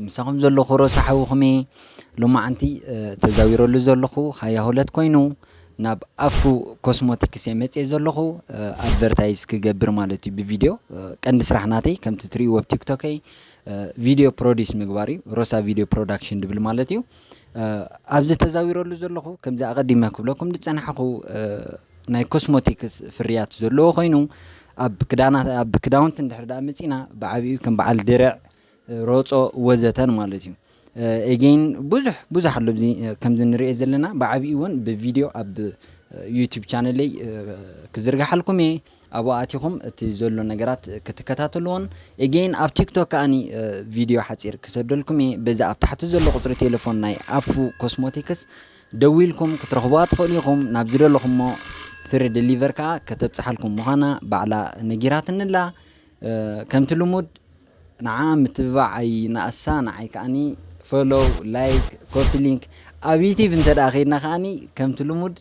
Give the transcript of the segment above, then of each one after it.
ምሳኹም ዘለኹ ሮሳ ሓውኹም'የ። ሎማዓንቲ ተዛዊረሉ ዘለኹ ሃያ ሁለት ኮይኑ ናብ ኣፍሩ ኮስሞቲክስ እየ መጺኤ ዘለኹ ኣድቨርታይዝ ክገብር ማለት እዩ ብቪድዮ ቀንዲ ስራሕ ናተይ ከምቲ ትሪእዎ ኣብ ቲክቶከይ ቪድዮ ፕሮዲስ ምግባር እዩ ሮሳ ቪድዮ ፕሮዳክሽን ድብል ማለት እዩ ኣብዚ ተዛዊረሉ ዘለኹ ከምዚ ኣቐዲመ ክብለኩም ዝጸናሕኹ ናይ ኮስሞቲክስ ፍርያት ዘለዎ ኮይኑ ኣብ ክዳና ኣብ ክዳውንቲ እንድሕር ደኣ መጺእና ብዓቢኡ ከም በዓል ድርዕ ሮጾ ወዘተን ማለት እዩ ኤጌን ብዙሕ ብዙሕ ኣሎ ኣብዚ ከምዚ ንሪኦ ዘለና ብዓብኡ እውን ብቪድዮ ኣብ ዩቲብ ቻነለይ ክዝርግሓልኩም እየ ኣብኡ ኣቲኹም እቲ ዘሎ ነገራት ክትከታተልዎን ኤጌን ኣብ ቲክቶክ ከዓኒ ቪድዮ ሓፂር ክሰደልኩም እየ በዚ ኣብ ታሕቲ ዘሎ ቁፅሪ ቴሌፎን ናይ ኣፉ ኮስሞቲክስ ደዊልኩም ክትረኽቡዋ ትኽእሉ ኢኹም ናብ ዝደለኹሞ ፍሪ ደሊቨር ከዓ ከተብፅሓልኩም ምዃና ባዕላ ነጊራትንላ ከምቲ ልሙድ ንዓኣ ምትብባዕ ኣይ ንኣሳ ንዓይ ከኣኒ ፈሎው ላይክ ኮፒ ሊንክ ኣብ ዩቲብ እንተ ከይድና ከኣኒ ከምቲ ልሙድ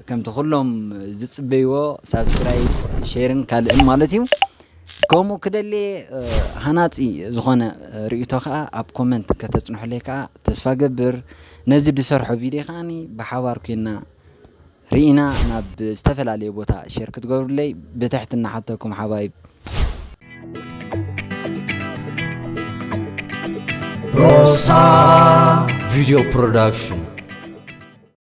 ከምቲ ኩሎም ዝፅበይዎ ሳብስክራይብ ሼርን ካልእን ማለት እዩ ከምኡ ክደሌ ሃናፂ ዝኾነ ርእቶ ከዓ ኣብ ኮመንት ከተፅንሑለይ ከዓ ተስፋ ገብር ነዚ ዝሰርሖ ቪድዮ ከዓኒ ብሓባር ኮይና ሪኢና ናብ ዝተፈላለየ ቦታ ሸር ክትገብሩለይ ብትሕትና ሓተኩም ሓባይብ። ሮሳ ቪድዮ ፕሮዳክሽን